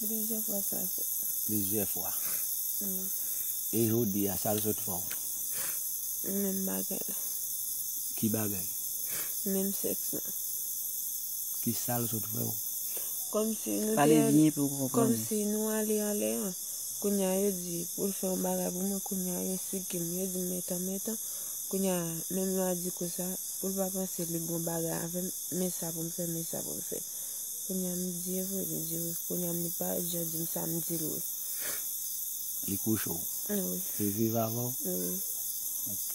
Plizyè fwa sa fèt. Plizyè fwa. E jodi a sa l sot fè w? Menm bagay la. Ki bagay? Menm sèks lan. Ki sa l sot fè w? Kòmsi nou te. Pale byen pou yo konprann. Kòmsi nou ale anlè an. Kounye a yo di pou l fè yon bagay pou mwen kounye a yo siki m. Yo di m men tan men tan. Kounye a menm lwa di konsa pou l pa panse li bon bagay avè m men sa pou m fè men sa pou m fè. Kounya m di e vre li di wi kounya m li pa jan di m sa m di l wi. Li kouche w? Wi. Li viv avè w? Wi. Ok.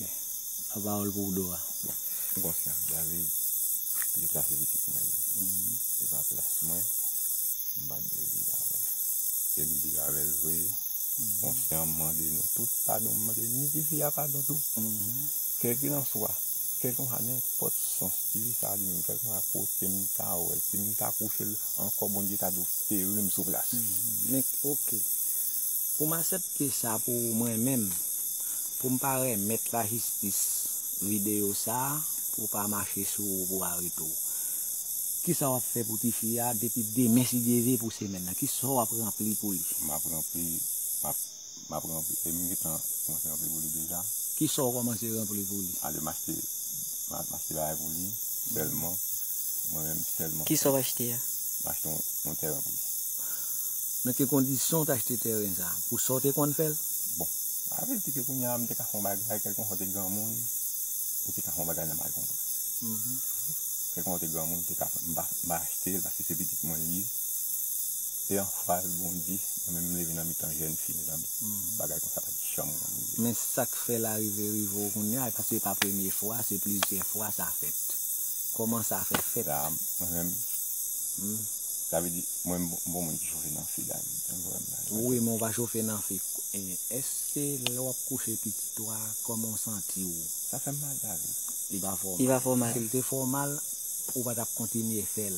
Yon pawòl pou w do a. Bon. M konsyan David pi pase pitit mwen li. Li pa plas mwen, m pa t dwe viv avè l. E m viv avè l vre, konsyan m mande nou tout padon m mande ni tifi a padon tou. Kèlkilanswa, kèlkilanswa nenpòt sans. Ti fi sa dim kèlkeswa kotem ta wèl sim ta kouchel ankò Bondye ta do ferim sou plas. Men ok poum asèpte sa pou ou mwen menm poum pa remèt la jistis video sa pou pa mache sou ou pou arete ou kisa wap fè pou ti fi a depi demen si Dye ve pou semèn nan kisa wap ranpli pou li. Map ranpli map Map ranpli e m gentan kòmanse ranpli pou li deja. Kisa w kòmanse ranpli pou li? Ale m achte map achte bagay pou li sèlman mwen menm sèlman. Kisa w achte a? M achte yon tèren pou li. Nan ki kondisyon w t achte tèren sa? Pou sa w te konn fè l? Bon sa vle di ke kounye a m te ka fè yon bagay kèlkonsa w te granmoun ou te ka fè yon bagay nan mal konprann. Kèlkonsa w te granmoun ou te ka fè m pa achte l paske se pitit mwen l ye. E anfaz Bondye mwen menm m leve nan mitan jèn fi mezanmi bagay konsa pat janm konn rive m. Men sak fè la rive rive w kounya epi se pa premye fwa se plizyè fwa sa fèt kòman sa fè fèt. La mwen menm sa vle di mwen m bon moun ki chofe nan fi la jan w wè m la. Wi men w pa chofe nan fi èske lè wap kouche pitit ou a kòman w santi w. Sa fèm mal David. Li pa fè w mal. Sil te fè w mal ou pa tap kontinye fèl.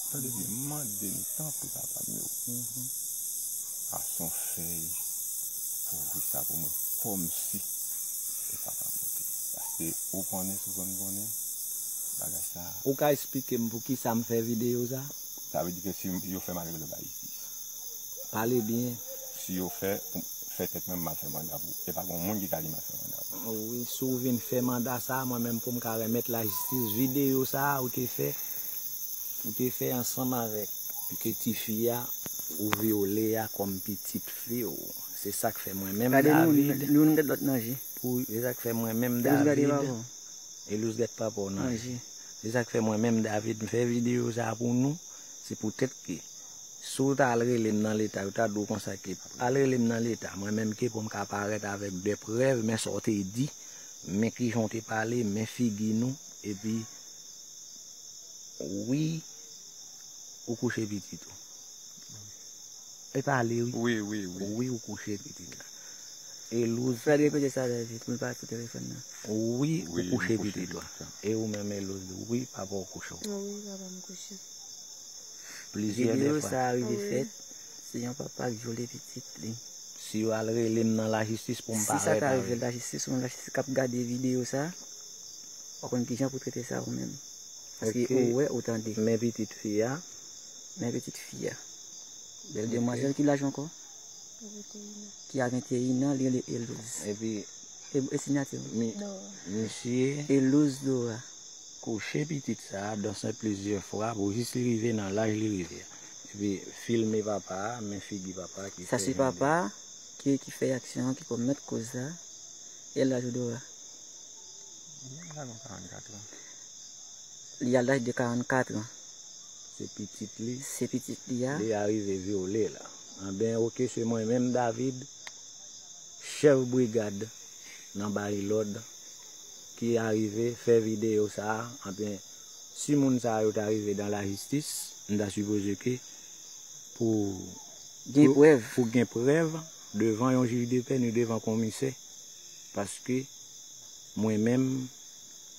Tande byen, m mande n tanpri papa m yo, pase yon fèy pou ouvri sa pou mwen kòmsi e pa pa moute. Paske ou konnen sou fè m konnen bagay sa a. Ou ka esplike m pou kisa m fè videyo sa a? Sa vle di ke si yo fè m ale lòt Ayiti. Pale byen. Si yo fè pou m fè tèt mwen m al fè manda pou e pa gon moun ki ka di m al fè manda pou. O wi, si w vin fè manda sa a mwen menm pou m ka remèt lajistis videyo sa a ou te fè Ou te fè ansanm avèk piti fi a ou vyole a kòm pitit fi w. Se sa k fè mwen menm David. Se sa k fè mwen menm David. Elouse gèt papa w nan je. Se sa k fè mwen menm David m fè videyo sa a pou nou. Se poutèt ke si w ta al rele m nan leta yo ta di w konsa ke al rele m nan leta mwen menm ke pou m ka parèt avèk de prèv men sa w te di, men kijan w te pale, men figi nou epi Wi ou kouche pitit ou. E pale wi. Wi wi wi. Wi ou kouche pitit la. Elouse. Fred repete sa trè vit pou l pa ap koute telefòn nan. Wi ou kouche pitit ou. E ou menm Elouse wi papa w kouche w. Wi papa m kouche. Plizyè de fwa. Video sa rive fèt se yon papa k vyole pitit li. Si yo al rele m nan lajistis pou m parèt avèl. Si sa ta rive lajistis ou menm lajistis k ap gade video sa. Ou konn kijan pou trete sa ou menm. Paske ou wè ou tande. Men pitit fi a. Men pitit fi a. Bèl demwazèl ki laj ou ankò? Ki a 21 an, li rele Elouz. Epi. E sinyati ou? Mi. Dora. Misye. Elouz Dora. Kouche pitit sa a dan sen plizyè fwa pou jis li rive nan laj li rive a. Epi filme papa a, men figi papa a ki fè jan li. Sa se papa a ki fè aksyon an ki komèt koz sa. E laj ou Dora? Li al laj de 44 an. Se pitit li. Se pitit li a. Li arive vyole la. Anben oke se mwen menm David, chèf brigad nan Bayi Lòd ki arive fè videyo sa a. Anben si moun sa yo ta rive dan lajistis, m ta sipoze ke pou gen prèv devan yon jij de pè ni devan konmisè. Paske mwen menm,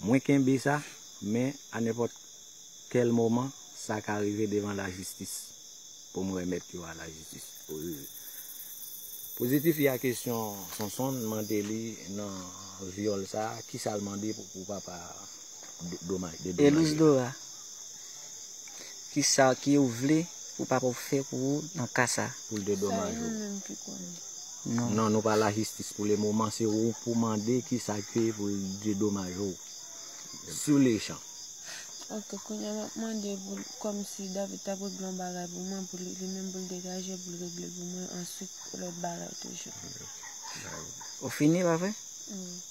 mwen kenbe sa, men a nenpòt kèl moman, sa ka rive devan lajistis pou m renmèt yo a lajistis. Pozitif y a kesyon Sonson mande li nan vyòl sa a, kisa l mande pou papa a? Elise Dora kisa ki ou vle pou papa ou fè pou ou nan ka sa. Pou l dedomaj ou. Sa li menm ki konnen. Non. Non nou pa la jistis pou le moman se ou pou mande kisa ke pou l dedomaj ou. Sou le chan. Ok kounya map mande pou l kom si David tap regle yon bagay pou mwen pou li menm pou l degaje pou l regle l pou mwen answit pou lot bagay toujou. Ou fini pa vre? Wi.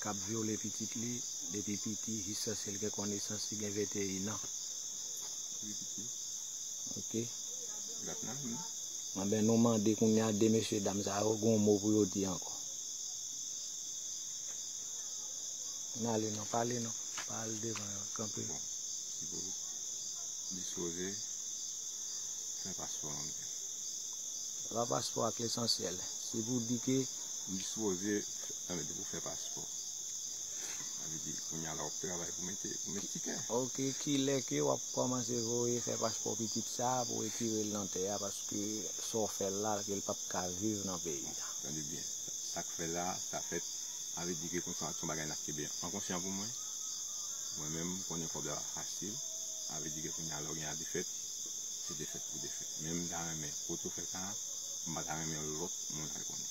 kap vyole pitit li depi piti jiskaske l gen konesans li gen 21 an. Anben nou mande kounye a 2 mesye dam sa yo gen yon mo pou yo di ankò. N ale non, pale non, pa al devan yo, kanpe. Bon, si pou dispoze, fè paspò an mwen. Se pa paspò ak lesansyèl, se pou di ke. Dispoze. Sa vle di pou fè paspò. Sa vle di kounya la wap travay pou mete pou met tikè. Ok kilè ke wap kòmanse voye fè paspò pitit sa pou retirel nan tè a paske sa w fèl la kel pap ka viv nan peyi a. Tande byen sak fè la sa fèt sa vle di ke konsa son bagay nap kenbe an konsyan pou mwen. Mwen menm konnen kòb la pa fasil sa vle di ke kounya lè w gen a defèt se defèt pou defèt men m ta renmen kote w fè sa a m pata renmen lòt moun al konnen.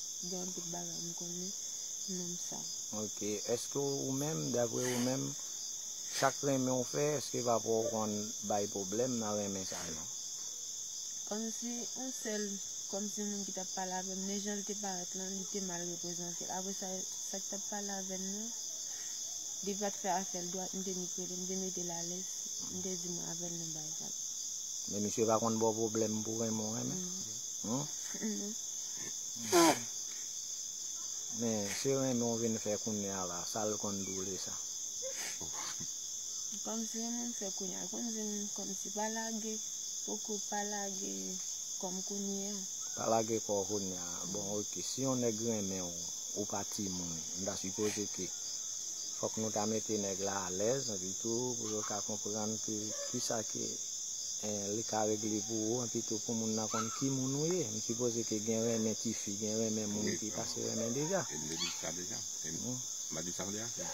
Gen anpil bagay m konnen nan sa. Ok eske ou menm dapre ou menm sak renmen w fè eske papa w konn bay pwoblèm nan renmen sa yo? Kòmsi yon sèl kòmsi moun ki tap pale avèm men janl te parèt lan li te mal reprezante apre sa sak tap pale avèm nan li pat fè afèl dwat m te nik rele m te metel alèz m te di mwen avèl nan bay vag. Men misye pa konn baw pwoblèm pou renmen w renmen? Non. Men se renmen w vin fè kounye a la, sa l konn doule sa. Kòmsi renmen m fè kounye a, l konn di m kòmsi pa lage poko, pa lage kò m kounye a. Pa lage kò w kounye a, bon ok, si yon nèg renmen w, ou pa timoun, m ta sipoze ke fòk nou ta mete nèg la alèz epitou pou yo ka konprann ke kisa ke Li ka regle pou ou epi tou pou moun nan konn ki moun ou ye. M sipoze ke gen renmen tifi, gen renmen moun ki pase renmen deja. E m te di sa deja. E m pa di sa w di a frè?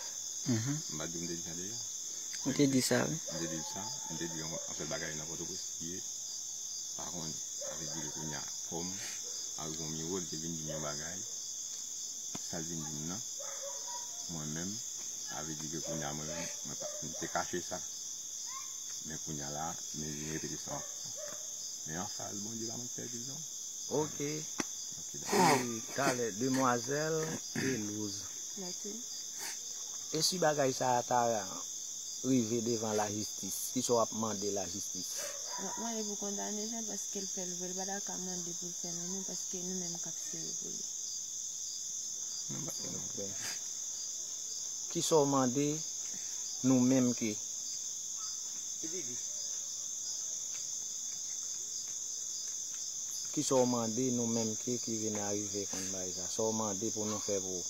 M pa di m te di sa deja? Ou te di sa wi. M te di l sa. M te di yon anpil bagay nan Pòtoprens ki ye. Pa konn avè di l kounya kòm ak yon miwo li te vin di m yon bagay. Sa l vin di m nan. Mwen menm avè di ke kounya mwen menm mwen pa m te kache sa. Men kounya la men vin repete sa wap fè men anfaz Bondye pa mwen k pèdil non ok dako e talè demwazèl pelouz e si bagay sa ta rive devan lajistis kisa wap mande lajistis. Map mande pou kondane jean paske l fèl vre l pata ka mande pou l fè nan nou paske nou menm kap sere pou li. Kisaw mande nou menm ke. Kisa w mande nou menm ke ki vin arive konn bay sa? Sa w mande pou nou fè pou ou?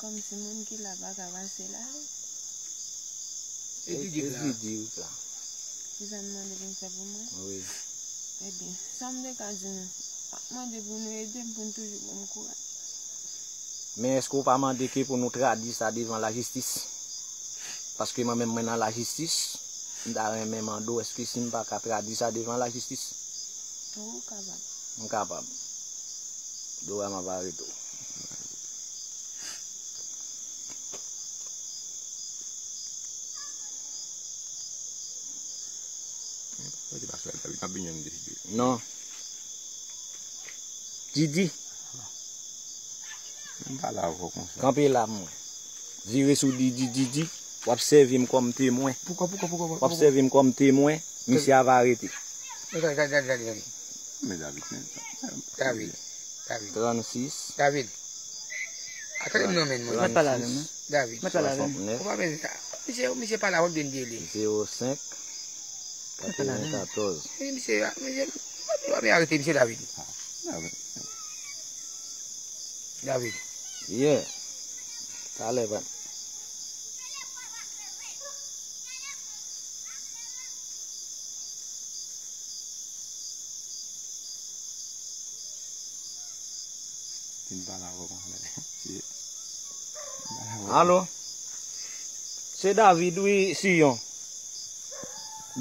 Kòm si moun ki la pa ka pase la ale. Edvige la. Edvige la. Kisa nou mande pou nou fè pou mwen? Wi. Ebyen, sa m te ka di nou, m ap mande pou nou ede m pou nou toujou ban m kouraj. Men eske ou pa mande ke pou nou tradwi sa devan lajistis? Paske mwen menm mwen nan lajistis, m ta renmen mande w eske si m pa ka tradwi sa devan lajistis? Wi ou kapab. M kapab. Dora m ap arete w. Non. Didi. Kanpe la mwen. Vire sou Didi Didi w ap sèvi m kòm temwen W ap sèvi m kòm temwen Mesye a va rete. Gade. Yeah. Talè ban. Vin pa la vòm an lè. Alo. Se David wi Sion.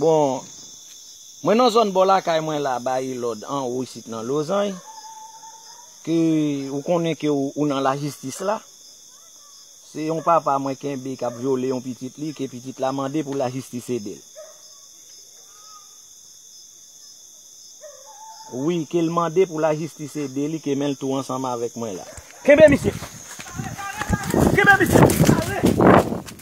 Bon. Mwen nan zòn bò lakay mwen la ba e lòd anwo isit nan Lozany ke ou konnen ke ou nan la jistis la. Se yon papa mwen kenbe k ap vyole yon pitit li ke pitit la mande pou la jistis ede l. Wi ke l mande pou la jistis ede li ke men l tou ansanm avèk mwen la. Kenbe misye! Kenbe misye!